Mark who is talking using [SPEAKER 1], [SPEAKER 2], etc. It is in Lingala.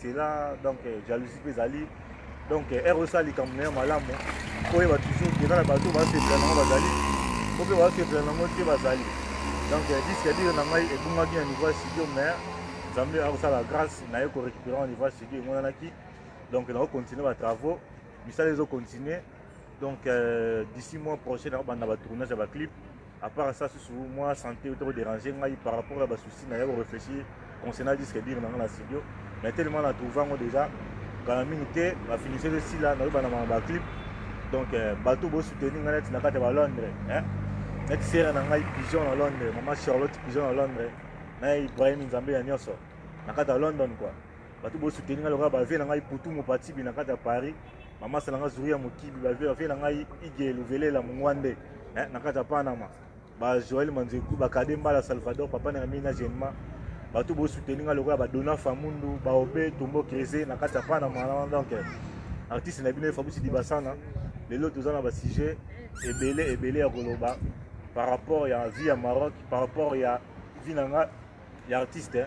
[SPEAKER 1] cela donc jalousie mpe ezali donc ere osala likambo na ye malamu koyeba toujours kena na bato basepela nango bazali po mpe basepela nango te bazali donc diske ya dire na ngai ebungaki na niveau ya studio mais nzambe akosala grâce na ye korécupere na niveau ya studio emonanaki donc nakocontinue batravaux misala ezocontinue donc euh, d'ici mois prochain nakobanda batournage ya baclip A part ça susu moi sante to déranger ngai par rapport à ba soucis na yako réfléchir concernant disque dur na na studio mais tellement na trouver ngo déjà kala mingi te ba finissait de sila na ba na ba clip donc euh, bato bo soutenir ngai na kata ba Londres hein neti sera na ngai pigeon na Londres maman Charlotte pigeon na Londres na Ibrahim Nzambe ya nyoso na kata London quoi bato bo soutenir ngai lokola ba vie na ngai putu mopatibi na kati ya Paris mama sala ngai zuri ya mokibi ba vie na ngai ige luvelela mungwande eh, na kati ya Panama ba Joël Manzeku ba Kade Mbala Salvador papa na Amina Genma bato bo soutenir ngai lokola ba Dona Famundu ba Obe Tombo Kreze na kati ya Panama donc eh, artiste na bino Fabrice Dibasana lelo toza na ba sujet ebele ebele ya koloba par rapport ya vie ya Maroc par rapport ya vie na ngai ya artiste eh.